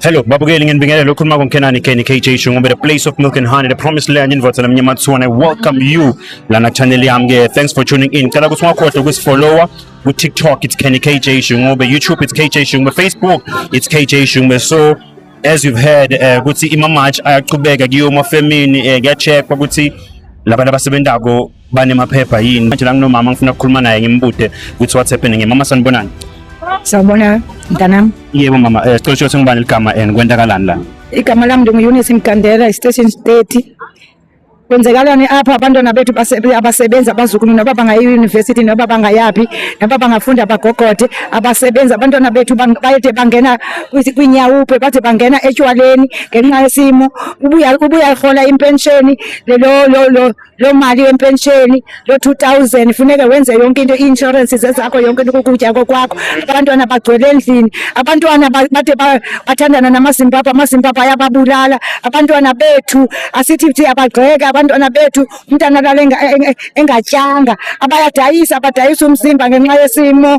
Hello, babukeli nginibingelele ukhuluma koMkhenani Kenny KJ Shungu the place of milk and honey, the promised land in Votsana Mnyamatsuwane. Welcome you lana channel yami ke. Thanks for tuning in. Cela ukuthi ungakhohlwa ukusifollowa ku TikTok it's Kenny KJ Shungu, be YouTube it's KJ Shungu, be Facebook it's KJ Shungu. So as you've heard eh, ukuthi uh, ima match ayaqhubeka kuyoma family eh, kuyacheckwa ukuthi labantu abasebenzako banemaphepha yini manje la nginomama ngifuna ukukhuluma naye ngimbude ukuthi what's happening mama sanibonani sawubona mntanami yebo mama um sicela usho ukuthi ngubani ligama and kwentakalani la igama lami ndingu-eunice mgandela istation thirty kwenzekalani apha abantwana bethu abasebenzi abazukulu noba bangaya eyunivesithi noba bangayaphi noba bangafunda bagogode abasebenzi abantwana bethu bayede bangena kwinyawuphe bade bangena etywaleni ngenxa yesimo ubuya ubuya rhola impensheni loo mali yempensheni loo two thousand funeke wenze yonke into ii-inshorensi zezakho yonke into kukutya kokwakho abantwana bagcwele endlini abantwana bade bathandana namazimbabwe amazimbabwe ayababulala abantwana bethu asithi thi abagxeke abantwana bethu umntana alala engatyanga abayadayisa abadayisa umzimba ngenxa yesimo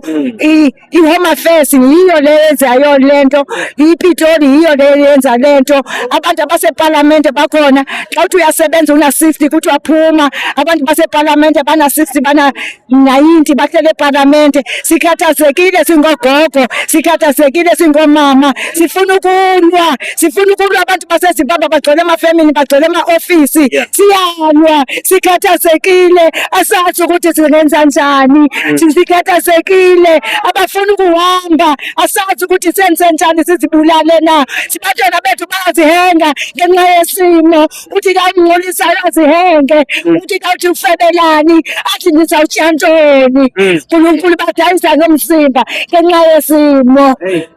I-Home Affairs yiyo le yenzayo le nto, iPitoli yiyo le yenza le nto, abantu abasepalamente bakhona. Xa uthi uyasebenza una-sixty kuthiwa phuma, abantu basepalamente bana-sixty bana-ninety bahlele epalamente. Sikhathazekile singogogo, sikhathazekile singomama, sifuna ukulwa. sifuna ukulwa abantu basezimbabwe bagcwele emafemini bagcwele ema-ofisi siyalwa sikhathazekile asazi ukuthi singenza njani mm. sikhathazekile abafuna ukuhamba asazi ukuthi senze njani sizibulale na sibatshela bethu bayazihenga ngenxa yesimo uthi kangcolisa ayazihenga mm. uthi kawuthi ufebelani athi nizawutshiya ntoni mm. nkulunkulu badayisa ngomzimba ngenxa yesimo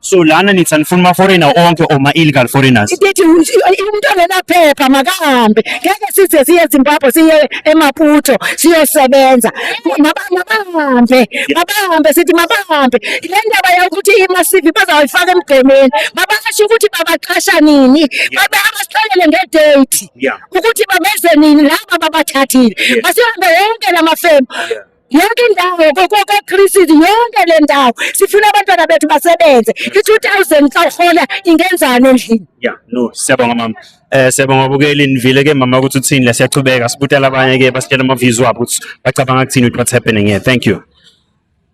So lana nithi anifuni ama-foreigner onke or ma-illegal foreigners? Ithi umuntu ongenaphepha makahambe. Ngeke size siye eZimbabwe siye eMaputo siyosebenza. Mabahambe, mabahambe sithi mabahambe. Le ndaba yokuthi ima-CV bazawuyifaka emgqemeni. Babasho ukuthi babaqasha nini. Babasixelele nge-date ukuthi babeze nini laba babathathile. Masihambe yonke la mafemu. yonke indawo koKristu yonke le ndawo sifuna abantwana bethu basebenze i-2000 kahola ingenzani endlini ya no siyabonga mama eh siyabonga bukeli nivile ke mama ukuthi uthini la siyaqhubeka sibutela abanye ke basitshela ama views wabo ukuthi bacabanga ukuthini what happening here thank you